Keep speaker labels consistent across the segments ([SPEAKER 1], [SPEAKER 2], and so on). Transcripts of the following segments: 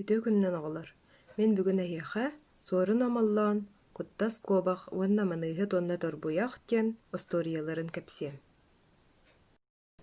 [SPEAKER 1] Үтүө күнүнэн оҕолор! Мин бүгүн эһиэхэ Суорун Омоллоон, Куттас Куобах уонна Маныыһыт уонна Торбуйах диэн остуоруйаларын кэпсиэм.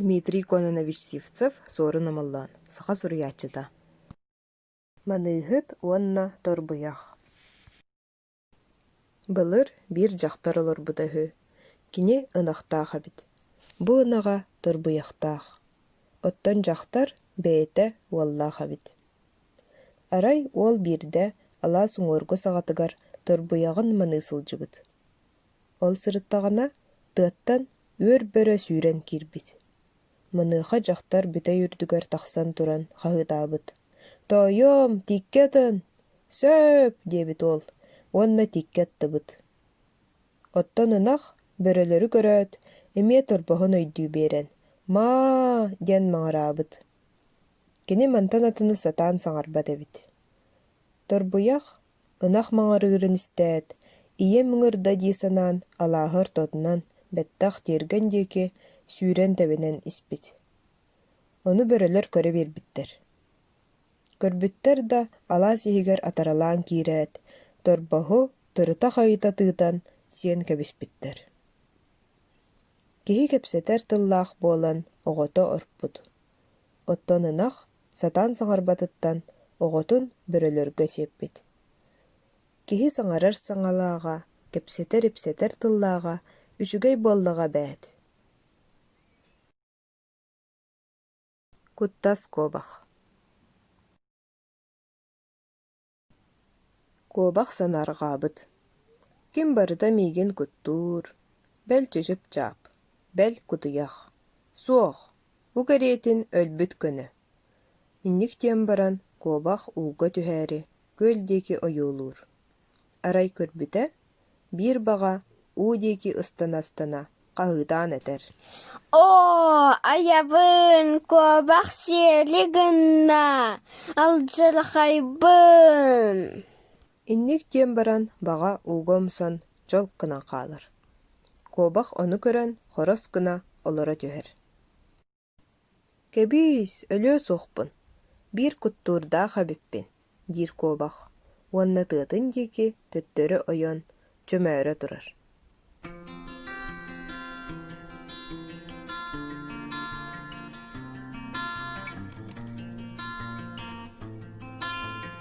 [SPEAKER 1] Дмитрий Кононович Сивцев Суорун Омоллоон, саха суруйааччыта. Маныыһыт уонна Торбуйах Былыр биир дьахтар олорбута үһү, кини ынахтаах эбит, бу ынаҕа торбуйахтаах, оттон дьахтар бэйэтэ уоллаах эбит. Арай уол биирдэ алаас уҥуоргу саҕатыгар торбуйаҕын маныы сылдьыбыт. Ол сырыттаҕына, тыаттан үөр бөрө сүүрэн киирбит Маныаха дьахтар бүтэй үрдүгэр тахсан туран хаһыытаабыт: «Тоойуом, тииккэ атын! Сөп!» диэбит уол уонна тииккэ аттыбыт. Оттон ынах, бөрөлөрү көрөөт, эмиэ торбоһун өйдүү биэрэн: «Маа!» диэн маҕыраабыт. Кини мантан атыны сатаан саҥарбат эбит. Торбуйах Ынах маҥарыырын истээт, ийэм ыҥырда дии санаан, алааһы ортотунан, бэттэх тиэргэн диэки, сүүрэн тэбинэн испит. Ону бөрөлөр көрө биэрбиттэр. Көрбүттэр да, алаас иһигэр атаралаан киирээт, торбоһу тырыта хайыта тыытан, сиэн кэбиспиттэр. Киһи кэпсэтэр тыллаах буолан, оҕото орпут. Оттон ынах сатаан саҥарбатыттан оҕотун бөрөлөргө сиэппит. Киһи саҥарар саҥалааҕа, кэпсэтэр-ипсэтэр тыллааҕа үчүгэй буоллаҕа эбээт Куттас куобах Куобах санаарҕаабыт: «Ким барыта миигин куттуур, бэл чычып-чаап, бэл кутуйах. Суох, бу кэриэтин өлбүт көнө» инник диэн баран куобах ууга түһээри күөл диэки ойуулуур. Арай көрбүтэ биир баҕа уу диэки ыстана-ыстана хаһыытаан этэр оо
[SPEAKER 2] айабын куобах сиэли гынна алдьархайбын инник
[SPEAKER 1] диэн баран баҕа ууга умсан чолк гынан хаалар куобах ону көрөн хорос гына олоро түһэр Кэбиис, өлүө суохпун, биир куттуурдаах эбиппин, диир куобах уонна тыатын диэки төттөрү ойон, чөмөөрө турар